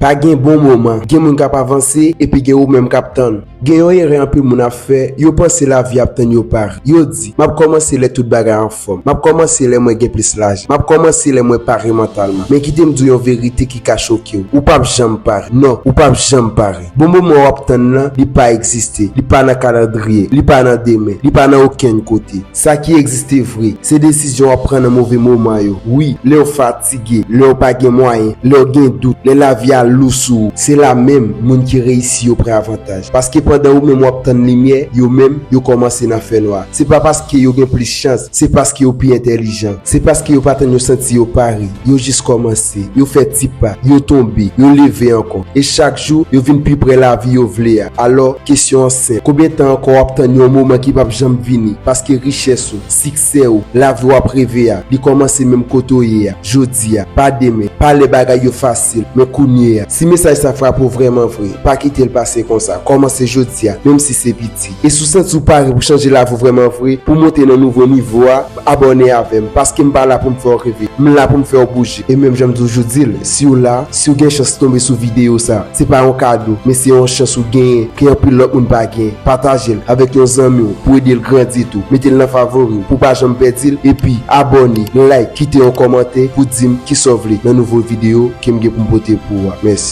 Pa gen bon moman, gen moun k ap avanse epi gen ou menm k ap tann. Gen yon erè anpil moun ap fè, yo panse lavi ap tann yo pare. Yo di, M ap kòmanse lè tout bagay anfòm. M ap kòmanse lè mwen gen plis lajan. M ap kòmanse lè mwen pare mantalman. Men kite m di w yon verite ki ka choke w, ou pap janm pare. Non, ou pap janm pare. Bon moman w ap tann nan, li pa egziste. Li pa nan kalandriye. Li pa nan demen. Li pa nan okenn kote. Sa ki egziste vre, se desizyon w ap pran nan move moman yo. Wi, lè w fatige, lè w pa gen mwayen, lè w gen dout, lè lavi a lou sou ou, se la menm moun ki reyisi yo pran avantaj. Paske pandan ou menm w ap tann limyè, yo menm, yo kòmanse nan fènwa. Se pa paske yo gen plis chans, se paske yo pi entèlijan. Se paske yo pa tann yo santi yo pare, yo jis kòmanse. Avanse, yo fè ti pa, yo tonbe, yo leve ankò, e chak jou, yo vin pi prè lavi yo vle a. Alò, kesyon an senp, konbyen tan ankò w ap tann yon moman ki pap janm vini, paske richès ou, siksè ou, lavi w ap reve a, li kòmanse menm kote w ye a, jodi a, pa demen, pa lè bagay yo fasil, men kounye a. Si mesaj sa frape w vrèman vre, pa kite l pase konsa, kòmanse jodi a, menm si se piti. Ayiti. E si w santi w pare pou chanje lavi w vrèman vre, pou w monte nan nouvo nivo a, abòne avè m, paske m pa la pou m fè w reve, m la pou m fè w bouje. E menm jan m toujou di l, si w la, si w gen chans tonbe sou videyo sa, se pa yon kado, men se yon chans ou genyen ke anpil lòt moun pa genyen. Pataje l avèk yon zanmi w pou ede l grandi tou, mete l nan favori w pou w pa janm pèdi l, epi abòne, like, kite yon kòmantè pou di m kisa w vle nan nouvo videyo ke m gen pou m pote pou ou a. Mèsi.